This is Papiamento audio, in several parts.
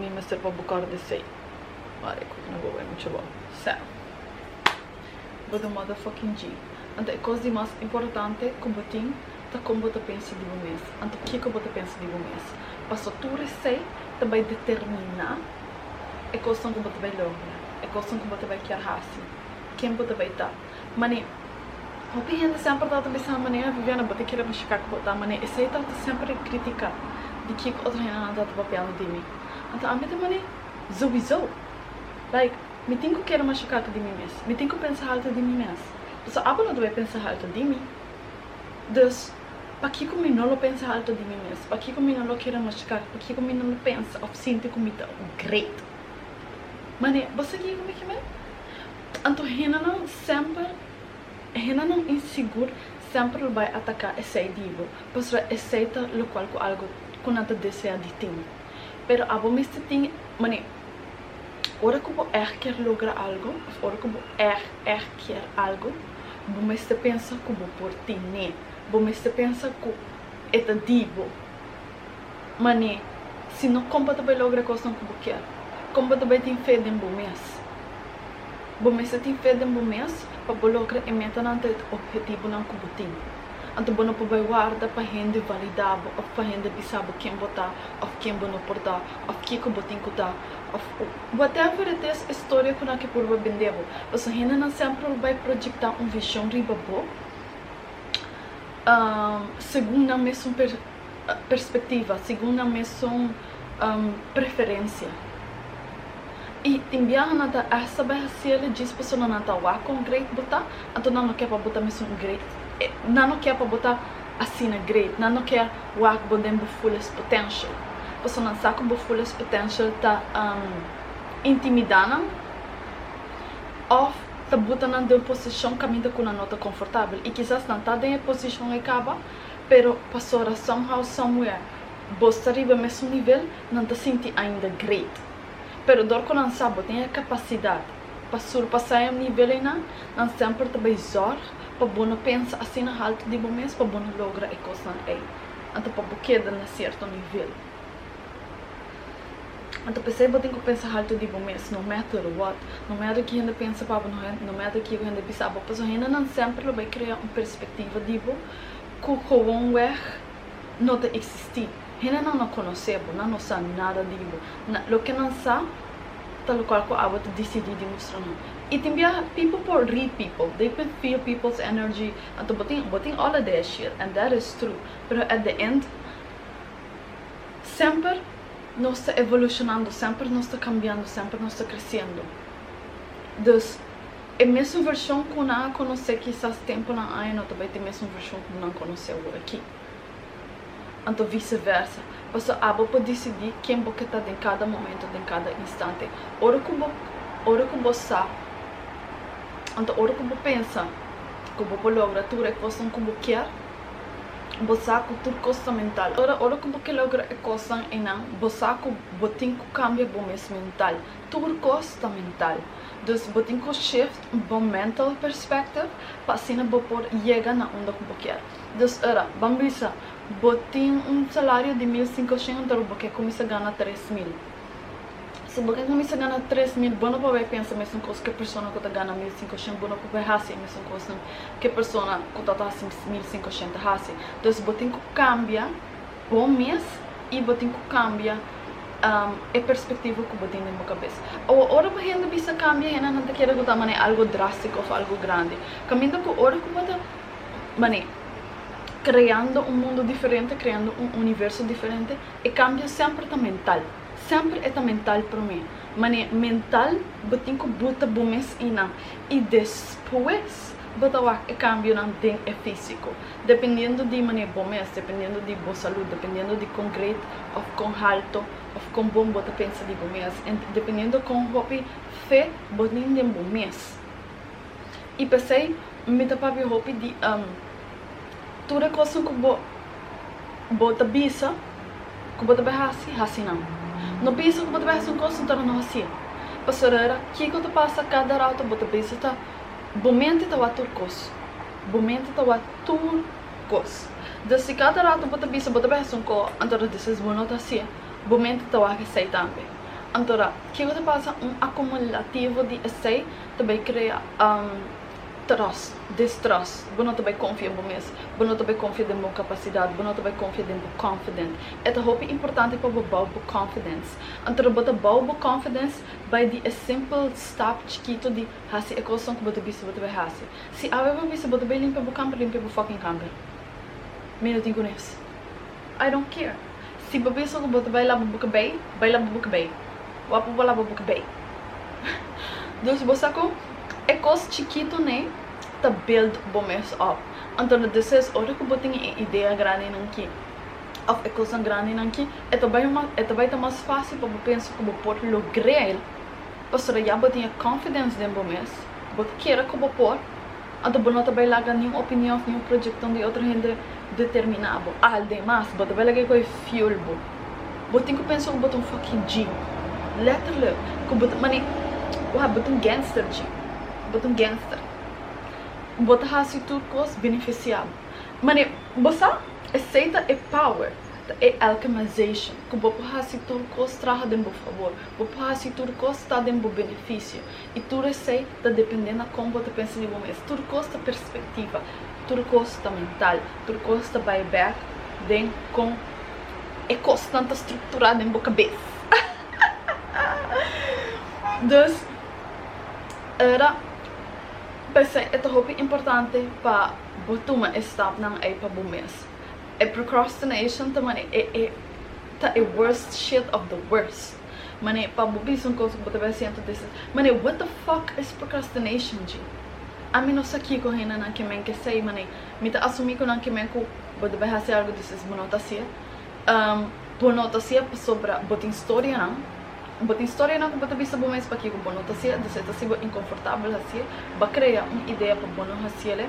Mi mester pa bo kòrda esei. Wak e kòrda bo bai mucha bo. Sèn. Bo ta mata fucking G. Anto e kos di mas importante ku bo tin ta kon bo ta pensa di bo mes. Anto kiko bo ta pensa di bo mes. Paso tur esei ta bai determiná e kosnan ku bo ta bai logra, e kosnan ku bo ta bai kier hasi, ken bo ta bai ta. Mane, hopi hende semper trata bisa, mane, ah, Viviana, bo ta kere pa shika ku bo ta, mane, esei trata semper di kritika di kiko otro hende nan trata papiando di mi. Anto ami ta mane, Souiso! Like, mi tin ku kere mas shikake di mi mes, mi tin ku pensa haltu di mi mes, pasobra abo no ta bay pensa haltu di mi. Dus, pakiko mi no lo pensa haltu di mi mes? Pakiko mi no lo kere mas shikake? Pakiko mi no lo pensa òf sinti ku mi ta un great? Mane, bo sa kiko mi ke mi? Anto hendenan semper, hendenan insigur semper lo bai ataká esei dibo, pasobra esei ta lokual ku algu ku nan ta deseá di tin. Pero abo mester tin manera, ora ku bo èg kier logra algu òf ora ku bo èg, èg kier algu, bo mester pensa ku bo por tin'é, bo mester pensa ku e ta di bo. Mane, si no, kon pa ta bai logra kosnan ku bo kier? Kon bo ta bai tin fe den bo mes? Bo mester tin fe den bo mes pa bo logra e metanan ta e ophetibunan ku bo tin. Anto bo no por bai warda pa hende validá bo òf pa hende bisa bo ken bo ta òf ken bo no por ta òf ke ku bo tin ku ta òf whatever it is e storia ku nan ke purba bend'é bo. Pasobra hendenan semper lo bai proyektá un vishon riba bo segun nan mesun. perspectiva, segun nan mesun preferencia. Y tin biaha nan ta esta beha ciele djis persona nan ta wak con great bo ta, anto nan no ke pa bo ta mesun great, nan no ke pa bo ta asina great, nan no ke wak bo den bo fullest potential, paso nan sa cu bo fullest potential ta intimida nan of ta buta nan den un posicion caminda cu nan no ta confortabel. Y kisas nan ta den e posicion e caba. Pero pasobra somehow, somewhere, bos ta riba e mesun nivel, nan ta sinti ainda great. Pero dor cu nan sa bo tin e capacidad pa surpasa e nivel eynan, nan semper ta bay zorg pa bo no pensa asina haltu di bo mes pa bo no logra e cosnan ey. Nan ta pa bo keda na cierto nivel. Nan ta pesey bo tin cu pensa haltu di bo mes, no matter what, no matter ki hende pensa pa bo, no matter kico hende bisa bo, pasobra hendenan semper lo bay crea un perspectiva di bo ku kowonweg no ta eksistí. Hendenan no konosé bo, nan no sa nada di bo. Loke nan sa ta lokual ku abo ta disidí di mustra nan. I tin bia people por read people, they can feel people's energy, anto bo tin bo tin ola di e shit and that is true, pero at the end semper nos ta evolushonando, semper nos ta kambiando, semper nos ta kresiendo. Dus. E mesun vershon ku nan a konosé kisas tempunan aña no ta bai ta e mesun vershon ku nan konosé ora akí. Anto viseversa. Pasobra abo por disidí ken bo ke ta den kada momento, den kada instante. Ora ku bo ora ku bo sa anto ora ku bo pensa ku bo por logra tur e kosnan ku bo kier, bo sa ku tur kos ta mental. Ora ora ku bo ke logra e kosnan einan, bo sa ku bo tin ku kambia bo mes mental. Tur kos ta mental. Dus bo tin ku shift bo mental perspective pa asina bo por yega na unda ku bo kier. Dus ora ban bisa bo tin un salario di mil sinko shen pero bo ke kuminsa gana tres mil. Si bo ke kuminsa gana tres mil bo no por bai pensa mesun kos ku e persona ku ta gana mil sinko shen. Bo no por bai hasi e mesun kosnan ku e persona ku ta hasi mil sinko shen ta hasi. Dus bo tin ku kambia. Bo mes i bo tin ku kambia e perspektivo ku bo tin den bo kabes. Awa ora ku hende bisa kambia hende nan ta kere ku ta manera algo drastiko òf algo grandi. Kaminda ku ora ku bo ta manera kreando un mundu diferente, kreando un universo diferente e kambio semper ta mental, semper e ta mental promé. Manera mental bo tin ku buta bo mes i nan i despues. Bo ta wak e kambionan den e físiko. Dependiendo di manera bo mes, dependiendo di bo salud, dependiendo di kon gret òf kon halto òf kon bon bo ta pensa di bo mes en dependiendo kon hopi fe bo tin den bo mes. I p'esei mi ta papia hopi di tur e kosnan ku bo bo ta bisa ku bo ta bai hasi, hasi nan. No bisa ku bo ta bai hasi un kos, no ta no hasié. Pasobra kiko ta pasa kada rato bo ta bisa ta Bo mente ta wak tur kos. Bo mente ta wak tur kos. Dus si kada ratu bo ta bisa bo ta behas un ko, anto ta disis bo no ta hasié, bo mente ta wak esei tambe. Anto ta, ke ku ta pasa? Un akumulativo di esei ta bai krea tròs, distròs. Bo no ta bai konfia en bo mes. Bo no ta bai konfia den bo kapasidat. Bo no ta bai konfia den bo confident. E ta hopi importante pa bo bou bo confidence. Anto ta bo ta bou bo confidence bai di e simpel stap chikitu di. Hasi e kosnan ku bo ta bisa bo ta bai hasi. Si awe bo bisa bo ta bai limpia bo kamber, limpia bo fucking kamber. Mi no tin ku nes. I don't care. Si bo bisa ku bo ta bai laba bo kabei, bai laba bo kabei. Wa pa bo laba bo kabei. Dus bo sa ku e kos chikitunan ta build bo mes op. Anto deses ora ku bo tin e idea grandinan aki òf e kosnan grandinan aki, e ta bai e ta bai ta mas fásil pa bo pensa ku bo por logr'el Pasobra ya bo tin e confidence den bo mes, bo ta kere ku bo por, anto bo no ta bai laga niun opinion òf niun proyektonan di otro hende determiná bo. Aldemas, bo ta bai laga ku e fuel bo. Bo tin ku pensa ku bo ta un fucking G. Letterlijk, ku bo ta mane, wak, bo ta un gangster G. Bo ta un gangster. Bo ta hasi tur kos benefisiá bo. Mane, bo sa, esei ta e power, ta e alchemization, ku bo por hasi tur kos traha den bo fabor. Bo por hasi tur kos ta den bo benefisio, i tur esei ta dependé na kon bo ta pensa di bo mes. Tur kos ta perspektiva, tur kos ta mental, tur kos ta bai bèk den kon e kosnan ta strukturá den bo kabes. Dus era p'esei e ta hopi importante pa bo tuma e stapnan ei pa bo mes. E procrastination ta mane e. ta e worst shit of the worst mané pa bo bisa un cosa cu bo ta bin hasi antes disa mané what the fuck es procrastination dje ami no sa kico hende nan ke men ke esey mané mi ta asumi cu nan ke men cu bo ta bin hasi algo disa es bo no ta hacia bo no ta hacia pasobra bo tin storianan bo tin storianan cu bo ta bisa bo mes pakico bo no ta hacia disa e ta hacibo inconfortabel haci'e ba crea un idea pa bo no haciele.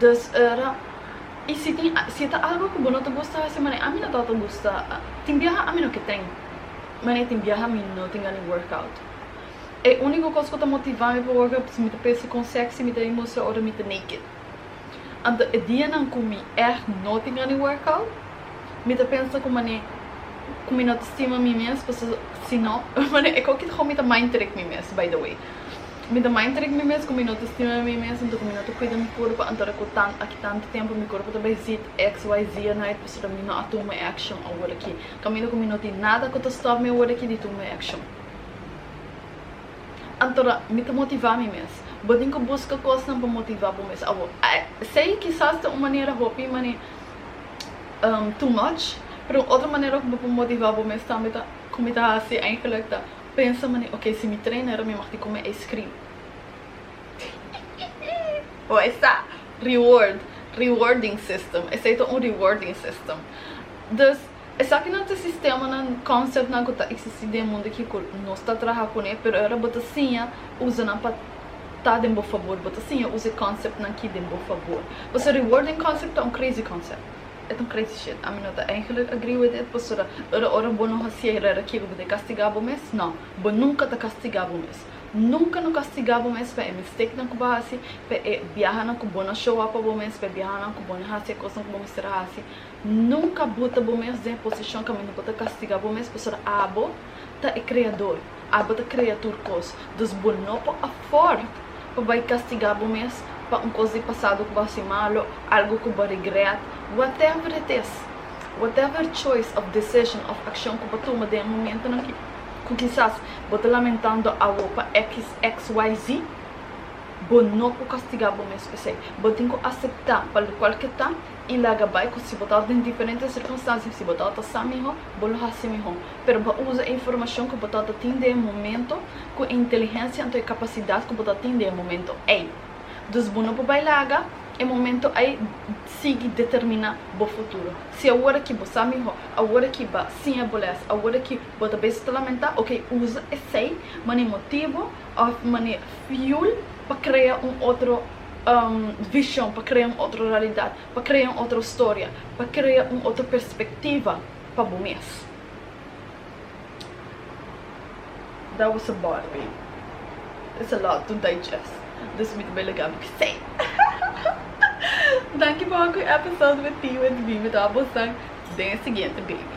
Dus ora y si tin si e ta algo cu bo no ta gusta hasi mane ami no ta ta gusta tin biaha ami no ke ten mane tin biaha mi no tin gana di work out e unico cos cu ta motiva mi pa work out pasobra mi ta pensa con sexy mi ta a mustra ora mi ta naked anto e dianan cu mi echt no tin gana di work out mi ta pensa cu mane cu mi no ta stima mi mes pasobra si no mane e cochi ta hou mi ta mind trick mi mes by the way. Mi ta mai trek mi mes ku mi no ta stima mi mes anto ku mi no ta kuida mi kurpa anto ku tan aki tantu tempu mi kurpa ta bai zit xyz a nait pasobra mi no a tuma action awor aki kaminda ku mi no tin nada ku ta stop mi awor aki di tuma action antora mi ta motiva mi mes bo tin ku buska kosnan pa motiva bo mes awor esei kisas ta un manera hopi mane too much pero un otro manera ku bo por motiva bo mes tambe ta ku mi ta hasi eigenlik ta. Pensa mane ok si mi trainer mi mag di come ice cream hihihihi o esta reward rewarding system esey ta un rewarding system dus esakinan ta sistemanan conceptnan cu ta existi den mundo aki cu nos ta traha cune pero e ora bo ta siña usanan pa ta den bo fabor bo ta siña usa e conceptnan aki den bo fabor pasobra rewarding concept ta un crazy concept E ta un crazy shit. Ami no ta eigenlijk agree with it pasobra ora ora bo no hacié herrera kier ku bo ta castigá bo mes? No. Bo nunka ta castigá bo mes. Nunka no castigá bo mes pa e mistakenan ku bo haci, pa e biahanan ku bo no show up pa bo mes, pa e biahanan ku bo no haci e cosnan ku bo mester a haci. Nunka buta bo mes den e posicion ku ami no por ta castigá bo mes pasobra abo ta e Creador. Abo ta krea tur kos, dus bo no por aford pa bai kastigá bo mes pa un kos di pasado ku bo hasi malu, algu ku bo a regret. Whatever it is, whatever choice of decision of akshon ku bo a tuma den e momentunan ki, ku kisas bo ta lamentando awo pa XXYZ, bo no por kastigá bo mes pa esei. Bo tin ku aseptá pa lokual ke ta i laga bai ku si bo ta orden diferente sirkunstansia, si bo ta ota sa mihó, bo lo hasi mihó. pero bo a usa e informashon ku bo ta ta tin den e momento ku e inteligensia anto e kapasidat ku bo ta tin den e momento ei. Dus bo no por bai laga e momento ei sigui determiná bo futuro. Si awor aki bo sa mihó, awor aki bo a siña bo lès, awor aki bo ta bisa ta lamentá, oke usa esei manera motibu òf manera fiul pa krea un otro vishon, pa krea un otro realidat, pa krea un otro storia, pa krea un otro perspektiva. pa bo mes. That was a bar babe. It's a lot to digest. Dus mi ta bai laga mi p'sei. Danki por hopi episode with T with V. Mi ta wou bo san den e siguiente baby.